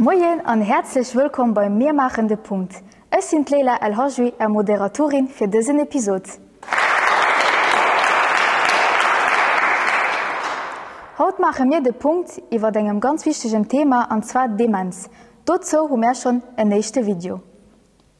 Moien an häerzlech wëllkomm bei Mir maachen de Punkt. Ech sinn d'Leila El Hajwi, Är Moderatorin fir dësen Episod. Haut maache mir de Punkt iwwert engem ganz wichtegen Thema an zwar d'Demenz. Dozou hu mär schonn en éischte Video.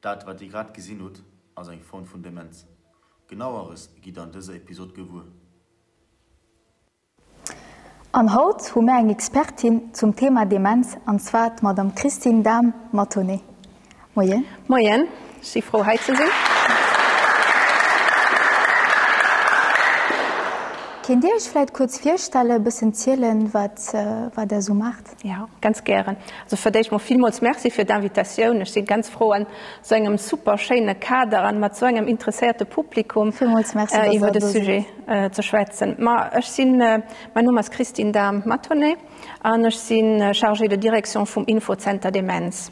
Dat wat dir grad gesinn hutt ass eng Form vun Demenz. Genaueres gitt der an dëser Episod gewuer. An haut hu mär eng Expertin zum Thema Demenz an zwar d'Madame Christine Dahm-Mathonnet. Moien. Moien, ech si frou hei ze sinn. Kéint dir iech vläit kuerz virstellen, e bëssen zielen wat wat der sou maacht? Ja, ganz gären. Also fir d'éischt mol villmools Merci fir d'Invitatioun. Ech si ganz frou an esou engem super schéine Kader an mat esou engem interesséierte Publikum iwwer de Sujet ze schwätzen. Ma ech sinn, mäin Numm ass Christine Dahm-Matonnet an ech si Chargée de direction vum Infozenter Demenz.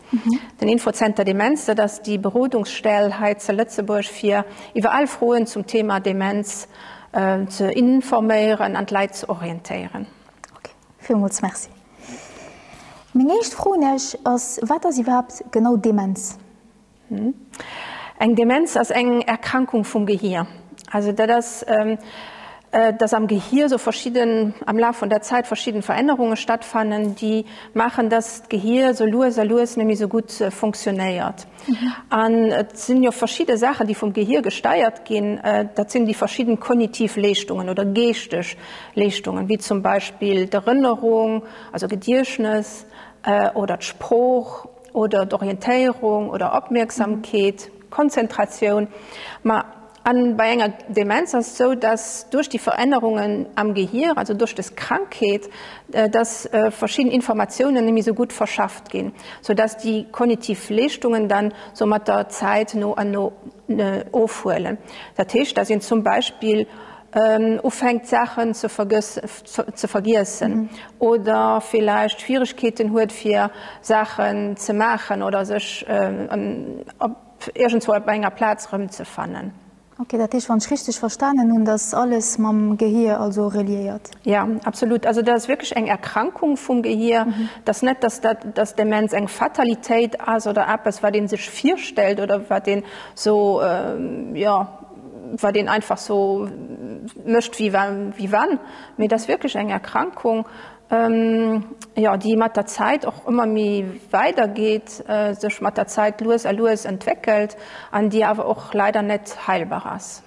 Den Infozenter Demenz, dat ass déi Berodungsstell hei ze Lëtzebuerg fir iwwer al Froen zum Thema Demenz ze informéieren an d'Leit ze orientéieren. Villmools Merci. Meng éischt Fro un Iech ass, Wat ass iwwerhaapt genau Demenz? Eng Demenz ass eng Erkrankung vum Gehir. Also dat ass, dass am Gehir esou verschidden, am Laf vun der Zäit verschidden Verännerunge stattfannen, déi maachen, dass d'Gehir esou lues a lues net méi esou gutt funktionéiert. An et sinn jo verschidde Saachen, déi vum Gehir gesteiert ginn. Dat sinn déi verschidden kognitiv Leeschtungen oder geeschteg Leeschtungen, wéi zum Beispill d'Erënnerung, also Gediechtnes, oder d'Sprooch oder d'Orientéierung oder Opmierksamkeet, Konzentratioun. A bei enger Demenz ass et sou, dass duerch déi Verännerungen am Gehier, also duerch des Krankheet, dass verschidden Informatiounen net méi sou gutt verschafft ginn, sou dass déi kognitiv Leeschtungen dann sou mat der Zäit no an no ofhuelen. Dat heescht, dass een zum Beispill ufänkt Saachen ze vergiessen oder villäicht Schwieregkeeten huet fir Saachen ze maachen oder sech iergendzwou op enger Plaz rëmzefannen. Ok, dat heescht, wann ech richteg verstanen hunn, dass alles mam Gehir also reliéiert? Jo, absolut. Also dat ass wierklech eng Erkrankung vum Gehir. Et ass net, dass dat, dass Demenz eng Fatalitéit ass oder eppes, wat ee sech virstellt oder wat een sou, jo, wat een einfach sou mécht wéi wa, wéi wann, mee et ass wierklech eng Erkrankung. jo déi mat der Zäit och ëmmer méi weider geet, sech mat der Zäit lues a lues entwéckelt an déi awer och leider net heilbar ass.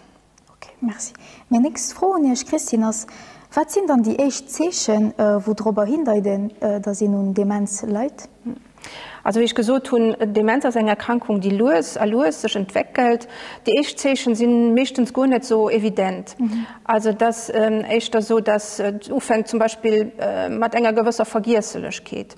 Ok, merci. Meng nächst Fro un Iech, Christine, ass, Wat sinn dann déi éischt Zeechen, wou drop erhindeiten, dass een un Demenz leit? Also wéi ech gesot hunn, Demenz ass eng Erkrankung, déi lues a lues sech entwéckelt. Déi éischt Zeechen si meeschtens guer net esou evident. Also et ass éischter esou, datt et ufänkt zum Beispill mat enger gewësser Vergiesselechkeet.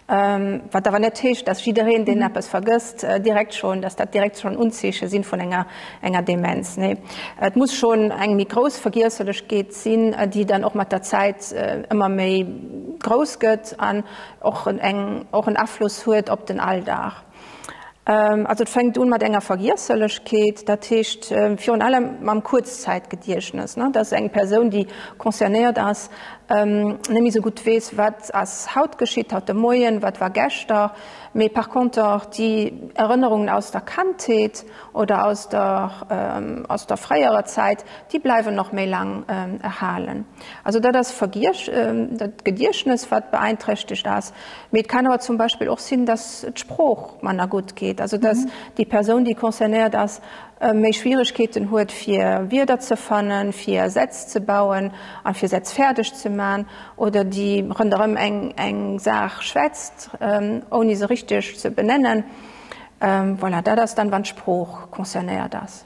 Wat awer net heescht, datt jiddereen, deen eppes vergësst, direkt schonn, datt dat direkt schonn Unzeeche sinn vun enger Demenz. Nee, et muss schonn eng méi grouss Vergiesselechkeet sinn, déi dann och mat der Zäit ëmmer méi grouss gëtt. och eng och en Afloss huet op den Alldag. Also et fänkt un mat enger Vergiesselechkeet, dat heescht virun allem mam Kuerzzäitgediechtnes, dass eng Persoun, déi concernéiert ass, net méi esou gutt weess, wat ass haut geschitt, haut de Moien, wat war geschter, mee par conter déi Erënnerungen aus der Kandheet oder aus der aus der fréierer Zäit, déi bleiwen nach méi laang erhalen. Also dat ass dat Gediechtnes, wat beeinträchtegt ass. Mee et kann awer zum Beispill och sinn, datt d'Sprooch manner gutt geet, also datt déi Persoun, déi concernéiert ass, méi Schwieregkeeten huet, fir Wierder ze fannen, fir Sätz ze bauen a fir Sätz fäerdeg ze man, oder déi ronderëm eng Saach schwätzt, ouni se richteg ze benennen. Voilà, dat ass dann, wann d'Sprooch concernéiert ass.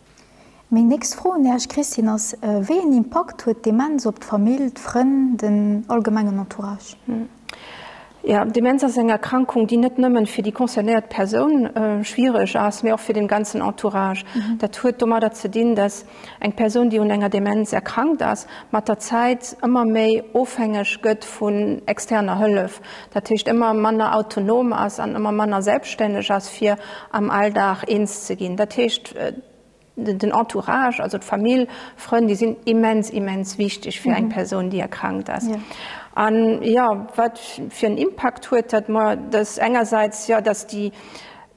Meng nächst Fro un Iech, Christine, ass, Wéi een Impakt huet d'Demenz op d'Famill, d'Frënn, den allgemengen Entourage? Jo, d'Demenz ass eng Erkrankung, déi net nëmmen fir déi concernéiert Persoun schwiereg ass, mee och fir den ganzen Entourage. Dat huet domadder ze dinn, dass eng Persoun, déi un enger Demenz erkrankt ass, mat der Zäit ëmmer méi ofhängeg gëtt vun externer Hëllef. dat heescht ëmmer manner autonom ass an ëmmer manner selbststänneg ass fir am Alldag eens ze ginn. Dat heescht den Entourage, also d'Famill, Frënn, déi sinn immens, immens wichteg fir eng Persoun, déi erkrankt ass. An jo, wat fir en Impakt huet dat? Ma dat engersäits, jo, datt déi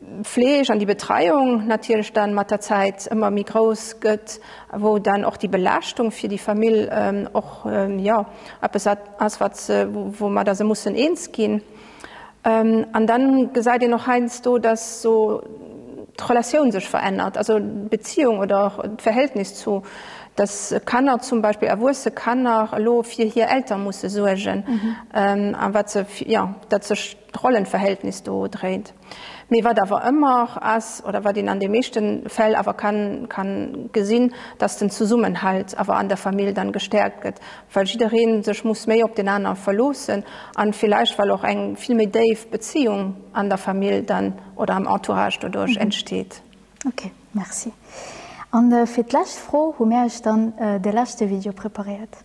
D'Fleeg an déi Betreiung natierlech dann mat der Zäit ëmmer méi grouss gëtt, wou dann och déi Belaaschtung fir déi Famill och jo eppes ass wat se, woumatter se mussen eens ginn. An dann gesäit een och heiansdo, dass esou d'Relatioun sech verännert, also d'Beziehung oder d'Verhältnis zu, dass Kanner zum Beispill, erwuesse Kanner elo fir hir Elter musse suergen a wat se jo dat sech, Rollenverhältnis do dréint. Mee wat awer ëmmer ass, oder wat een an de meeschte Fäll awer ka gesinn, dass den Zesummenhalt awer an der Famill dann gestärkt gëtt, well jidderee sech muss méi op den anere verloossen a villäicht well och eng vill méi déif Beziehung an der Famill dann oder am Entourage doduerch entsteet. Ok, merci. A fir d'lescht Fro hu mär iech dann de leschte Video preparéiert.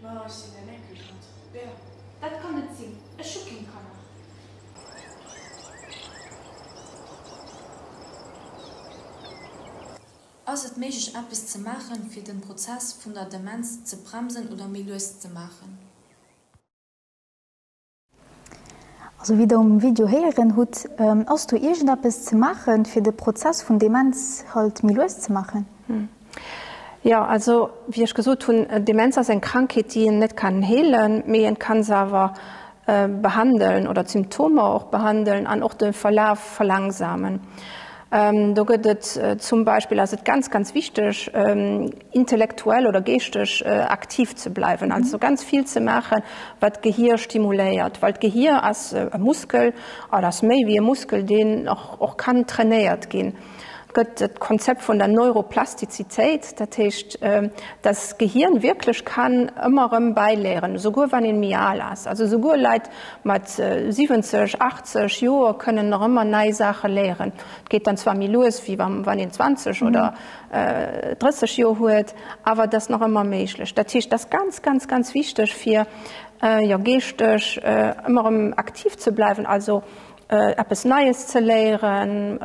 Ma ech sinn en Enkelkand. Bea. Dat kann net sinn, ech hu keng Kanner. Ass et méiglech eppes ze maachen, fir den Prozess vun der Demenz ze bremsen oder méi lues ze maachen? Also wéi der um Video héieren hutt, ass do iergendeppes ze maachen, fir de Prozess vun Demenz halt méi lues ze maachen? Jo, also wéi ech gesot hunn, Demenz ass eng Krankheet, déi een net kann heelen, mee een kann se awer behandelen oder d'Symptomer och behandelen an och de Verlaf verlangsamen. Do gëtt et zum Beispill, ass et ganz ganz wichteg intellektuell oder geeschteg aktiv ze bleiwen, also ganz vill ze maachen, wat d'Gehier stimuléiert, well d'Gehier ass e Muskel an ass méi wéi e Muskel, deen och kann trainéiert ginn. Et gëtt d'Konzept vun der Neuroplastizitéit, dat heescht, datt d'Gehirn wierklech kann ëmmer erëm bäiléieren, esouguer wann ee méi al ass. Also esouguer Leit, Mat 70, 80 Joer kënn een nach ëmmer nei Saache léieren. Et geet dann zwar méi lues, wéi wann een 20 oder 30 Joer huet, awer et ass nach ëmmer méiglech. Dat heescht, et ass ganz, ganz, ganz wichteg, fir geeschteg ëmmer erëm aktiv ze bleiwen, also eppes Neies ze léieren,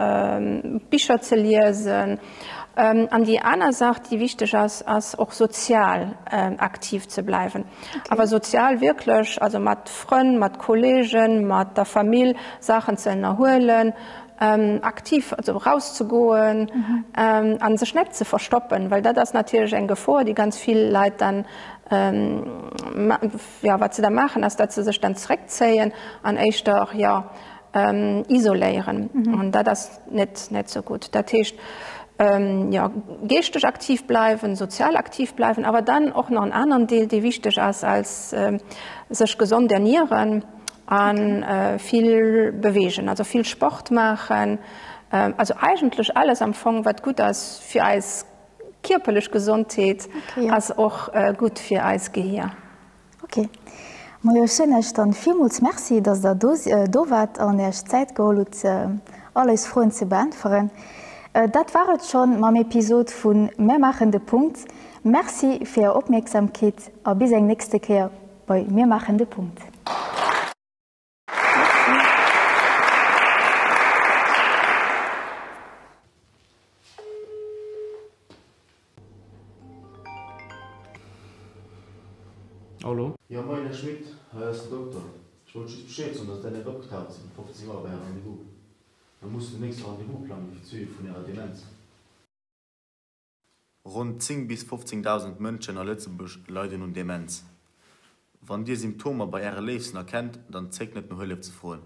Bicher ze liesen. An déi aner Saach, déi wichteg ass, ass och sozial aktiv ze bleiwen. Awer sozial wierklech, also mat Frënn, mat Kollegen, mat der Famill Saachen ze ënnerhuelen, aktiv, also erauszegoen a sech net ze verstoppen, well dat ass natierlech eng Gefor, déi ganz vill Leit dann, jo, wat se da maachen ass, datt se sech dann zréckzéien an éischter, jo, isoléieren an dat ass net net esou gutt. Dat heescht, jo, geeschteg aktiv bleiwen, sozial aktiv bleiwen, awer dann och nach en aneren Deel, dee wichteg ass, als sech gesond ernieren a vill beweegen, also vill Sport maachen, also eigentlech alles am Fong, wat gutt ass fir eis Kierperlech Gesondheet ass och gutt fir eist Gehier. Ok. Mojo, ech soen Iech dann villmools Merci, dass Der do do waart an Iech Zäit geholl hutt, all eis Froen ze beäntweren. Dat war et schonn mam Episod vun Mär maachen de Punkt. Merci fir Är Opmierksamkeet a bis eng nächste Kéier bei Mir maachen de Punkt. Jo moin Här Schmit, hei ass den Dokter. Ech wollt just Bescheed soen, dass däin Epp opgetaucht ass, um 15 Auer bei Är Rendez-vous. Mer mussen den nächste Rendez-vous plangen fir d'Suivi vun Ärer Demenz. Ronn 10 bis 15.000 Mënschen a Lëtzebuerg leiden un Demenz. Wann Dir Symptomer bei Äre Léifsten erkennt, dann zéckt net no Hëllef ze froen.